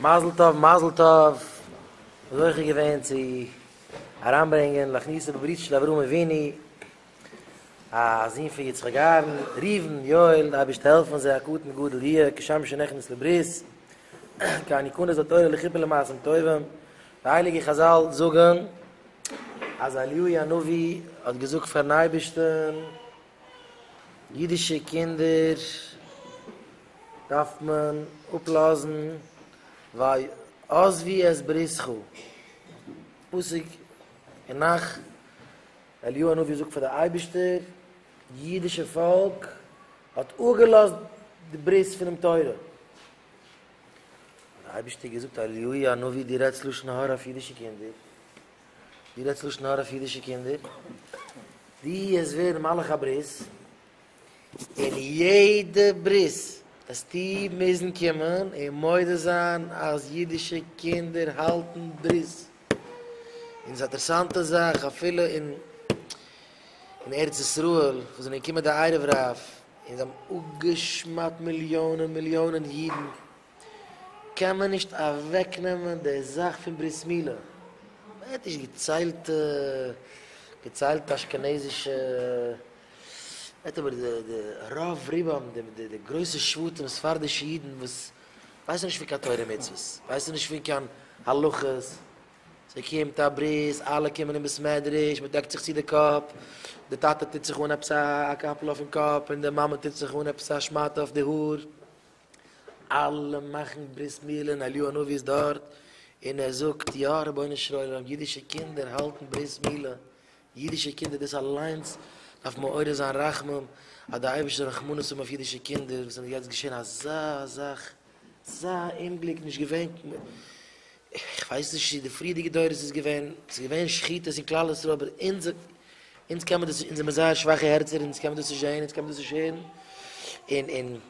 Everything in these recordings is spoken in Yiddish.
מזל טוב מזל טוב! זוכה געווען צו אריינברענגען להכניסו בברית של אברהם אבינו, א זון פון יצחק אהרן, ראובן, יואל, די אייבערשטער העלף אונז זיי הקטן גדול יהיה כשם שנכנס לברית, קיין נקנות התורה לכיפור למעשים טובים, די הייליגע חזל זאגן אז אליהו הנביא האט געזאגט פארן אייבערשטן, אידישע קינדער דארף מען אפלאזן וויי עזבי את בריתך, פסוק אין נח, אליהו הנביא זאגט פאר די אייבערשטער, אידישע פאלק האט אפגעלאזט די ברית פונעם תורה, האט די אייבערשטער געזאגט אליהו הנביא די רעדסט לשון הרע אויף אידישע קינדער, דו רעדסט לשון הרע אויף אידישע קינדער, דו העסט ווערן מלאך הברית, און יעדע ברית העסטו מוזן קומען און מודה זיין אז אידישע קינדער האלטן ברית, און ס'איז א אינטערעסאנטע זאך אפילו אין אין ארץ ישראל וואס זענען געקומען די ערב רב און זיי האבן אפגע'שמד'ט מיליאנען מיליאנען אידן. קען מען נישט אוועק נעמען די זאך פון ברית מילה, מ'העט נישט געציילט געציילט אשכנזישע, מ'העט אבער די די רוב רובם די די די גרויסע שבטים ספרדישע אידן וואס ווייסן נישט פון קיין תורה ומצוות, ווייסן נישט פון קיין הלכות, ס'קומט א ברית אלע קומען אין בית מדרש מ'דעקט זיך צו די קאפ, די טאטע טוט זיך אן עפעס א קאפל אויפן קאפ און די מאמע טוט זיך אן עפעס א שמאטע אויף די האר, אלע מאכן ברית מילה און אליהו הנביא איז דארט און ער זאגט יא רבונו של עולם אידישע קינדער האלטן ברית מילה אידישע קינדער דאס אליינס דארף מעורר זיין רחמים אז די אייבערשטער זאל רחמנות האבן אויף אידישע קינדער וואס איז יעצט געשען אזא זאך אזא אומגליק נישט געווען איך ווייס נישט צו די פריערדיגע דורות איז געווען ס'איז געווען שחיטות אין כלל ישראל אבער אונז אונז קען מען דאס אונז זעמער זייער שוואכע הערצער אונז קען מען דאס נישט זען אונז קען מען דאס נישט הערן און און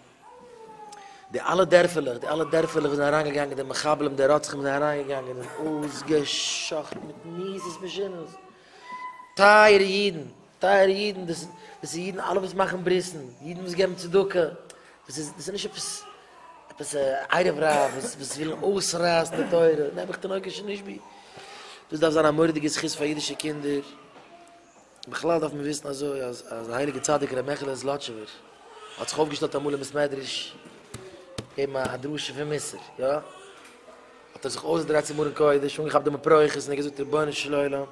די אלע דערפעלעך, די אלע דערפעלעך וואו זענען אריינגעגאנגען די מחבלים, די רוצחים זענען אריינגעגאנגען און אויסגע'שחט'ן מיט מיזות משונות. טייערע אידן, טייערע אידן, דאס איז אידן אלע וואס מאכן ברית'ן, אידן וואס געבן צדקה, דאס איז דאס איז נישט עפעס עפעס א ערב רב וואס וואס ווילן אויסרייסן די תורה, נעבעך תינוקות שנשבי. דאס דארף זיין א מורא'דיגע זכות פאר אידישע קינדער. בכלל דארף מען וויסן אזוי אז אז דער הייליגער צדיק ר' מעכעלע זלאטשובער האט זיך אויפגעשטעלט אמאל אין בית מדרש געבן א דרשה פון מוסר, יא? האט ער זיך אויסגעדרייט צום ארון קודש, אנגעכאפט דעם אפרוחת און ער האט געזאגט, רבונו של עולם,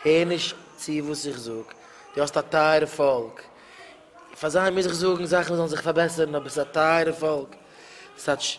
הער נישט צו וואס איך זאג, דו האסט א טייערע פאלק, פאר זיי מוז איך זאגן זאכן זאלן זיך פארבעסערן, אבער ס'איז א טייערע פאלק, ס'האט ש.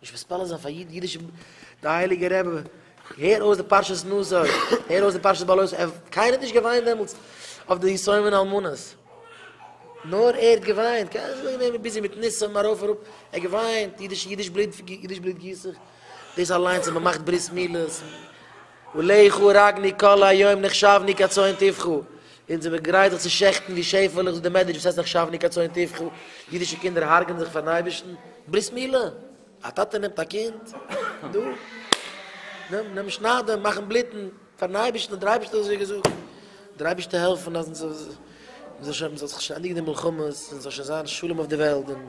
נישט מספּלע זײַן פֿאַר ייִדן ייִדישע מ. דער הייליגער רבי, הער אויס די פּרשת נשא, הער אויס די פּרשת בעלות, ער, קיינער האָט נישט געוויינט דעמאָלט אויף די יתומים און אלמנות, נאָר ער האָט געוויינט, קיינער איז נישט געווען ביזי מיט נשא און אַרויף און אַראָפּ, ער האָט געוויינט, ייִדיש, ייִדיש בלוט, ייִדיש בלוט גיסט זיך, דאָס אַליינס, און מע מאַכט ברית-מילות. ולכו וראגני כל היום נחשבני כצאן טבחו, אונז זעמיר גרייט זיך צו שעכטן ווי שעפעלעך זאגט די מעדרש וואס הייסט נחשבני כצאן טבחו, אידישע קינדער הרג'נען זיך פארן אייבערשטן, ברית מילה, א טאטע נעמט א קינד, דא, נעם, נעם שניידן, מאכן בלוטן, פארן אייבערשטן האט דער אייבערשטער אזוי געזאגט, דער אייבערשטער העלפן אז אונז זאל שוין, מען זאל זיך שוין ענדיגן די מלחמות, און ס'זאל שוין זיין שלום אויף די וועלט, און.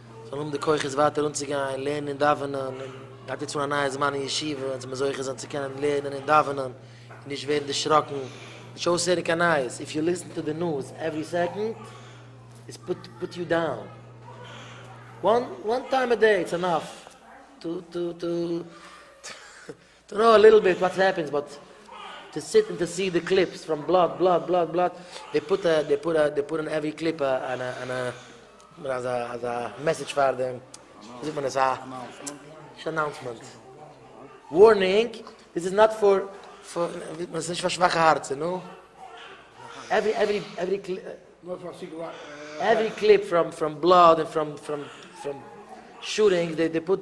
זאל האבן די כוחות ווייטער אנצוגיין לערנען און דאווענען, און גייט יעצט אן א נייע זמן אין ישיבה, אונז מוז זוכה זיין צו קענען לערנען און דאווענען און נישט ווערן דערשראקן, נישט אויסהערן קיין נייעס, איף יו ליסן טו די ניוז עווערי סעקאנד איטס פוט יו דאון, וואן טיים א דעי איטס ענאף טו טו טו טו. טראו א ליטל ביט וואט העפענס באט טו סיט און טו סי די קליפס פראם בלאט בלאט בלאט בלאט דעי פוט א דעי פוט א דעי פוט אן עווי קליפ א אן א אן א און אזא אזא מעסעדזש פאר די ווי זאגט מען עס א נישט אנאונסמענט ווארנינג דיס איז נאט פאר פאר ווי מען עס נישט פאר שוואכע הארצער נו עווי עווי עווי עווי קליפ פראם פראם בלאט און פראם פראם פראם שוטינגס דעי דעי פוט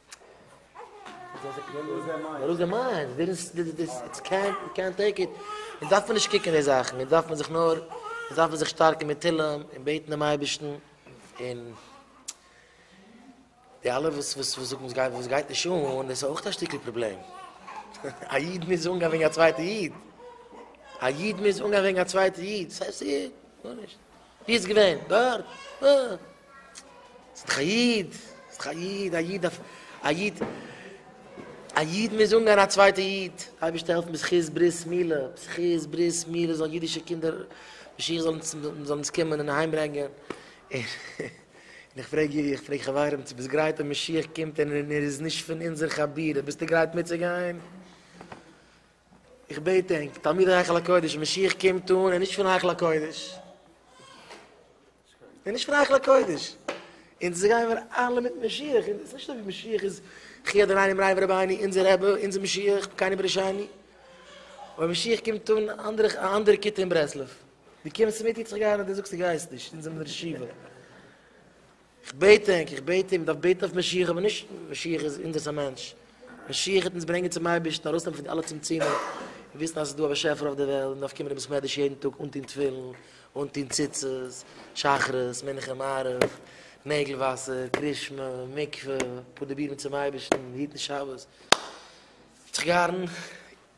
לוז דער מיינד. לוז דער מיינד. ווילסט די די איטס קענט יו קענט טעיק איט. אונז דארף מען נישט קוקן די זאכן. אונז דארף מען זיך נאר אונז דארף מען זיך שטארקן מיט תהילים און בעטן דעם אייבערשטן און די אלע וואס וואס וואס זאגן וואס גייט נישט אן דאס איז אויך א שטיקל פראבלעם. א איד מוז אנגיין וועגן א צווייטע איד. א איד מוז אנגיין וועגן א צווייטע איד. ס'הייסט איד. גארנישט. ווי איז געווען? דארט? אה. איז דאך א איד. איז דאך א איד. א איד דארף. א איד. א איד מוז אנגיין א צווייטע איד. אייבערשטער העלף מיר זכות ברית מילה. זכות ברית מילה זאלן אידישע קינדער משיח זאל אונז זאל אונז קומען און אהיים ברענגען. און איך פרעג איר איך פרעג חברים צו ביסט גרייט אז משיח קומט און ער איז נישט פון אונזער חבורה ביסטו גרייט מיטצוגיין? איך בעט ענק, תלמידי היכל הקודש, משיח קומט אן, ער איז נישט פון היכל הקודש. ער איז נישט פון היכל הקודש. אונז גייען מיר אלע מיט משיח, און ס'איז נישט אזוי ווי משיח איז חי אדונינו מריי ורבייני, אונזער רבי, אונזער משיח, בקייני ברישייני. אבער משיח קומט אן א אנדערע, א אנדערע כיתה אין ברסלב. דו קומסט מיט, איך זאג גיי אריין, דו זאגסט דו גייסט נישט, אונז האבן דיר שבעה. איך בעט ענק, איך בעט אים, דארף בעטן אויף משיח, אבער נישט משיח איז אונזערס א מענטש, משיח וועט אונז ברענגען צום אייבערשטן, ארויסנעמען פון די אלע צמצומים, און וויסן אז עס איז דא א באשעפער אויף דער וועלט, מען דארף קומען אין בית מדרש יעדן טאג, אנטון תפילין, אנטון ציצית, שחרית, מנחה, מעריב, נעגל וואסער, קרישמע, מקווה, פרודיבירן צום אייבערשטן, היטן שבת, זיך גארן.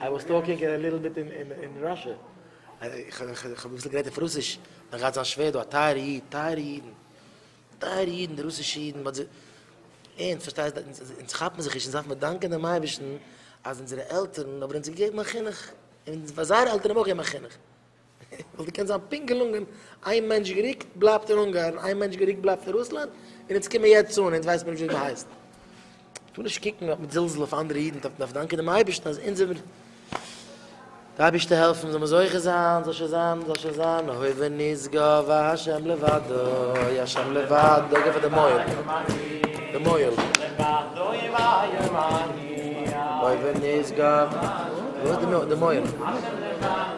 איי וואס טאלקינג א ליטל ביט אין ראשע. איך האב אביסל גערעדט אויף רוסיש, דער גאט זיין שווער דא א טייערע איד, טייערע אידן, טייערע אידן די רוסישע אידן, באט זיי, ערנסט פארשטייסט, אונז כאפן זיך נישט, אונז דארפן דאנקען דעם אייבערשטן אז אונזערע עלטערן האבן אונז געגעבן א חינוך, און פאר זייערע עלטערן האבן אויך געגעבן א חינוך. וואלט געקענט זיין פונקט געלונגען, איין מענטש געריקט בלייבט אין אונגארן, איין מענטש געריקט בלייבט אין רוסלאנד, און אונז קומען יעצט אן, אונז ווייסט מען נישט ווי מען הייסט. טו נישט קוקן מיט זלזול אויף אנדערע אידן, טאר מען דארף דאנקען דעם אייבערשטן אז אונז זעמיר די אייבערשטער העלפן זאל מען זוכה זיין, זאל שוין זיין, זאל שוין זיין, הוי ונשגב השם לבדו, השם לבדו, גיב פאר די מויל, די מויל. הוי ונשגב, וואו איז די מויל?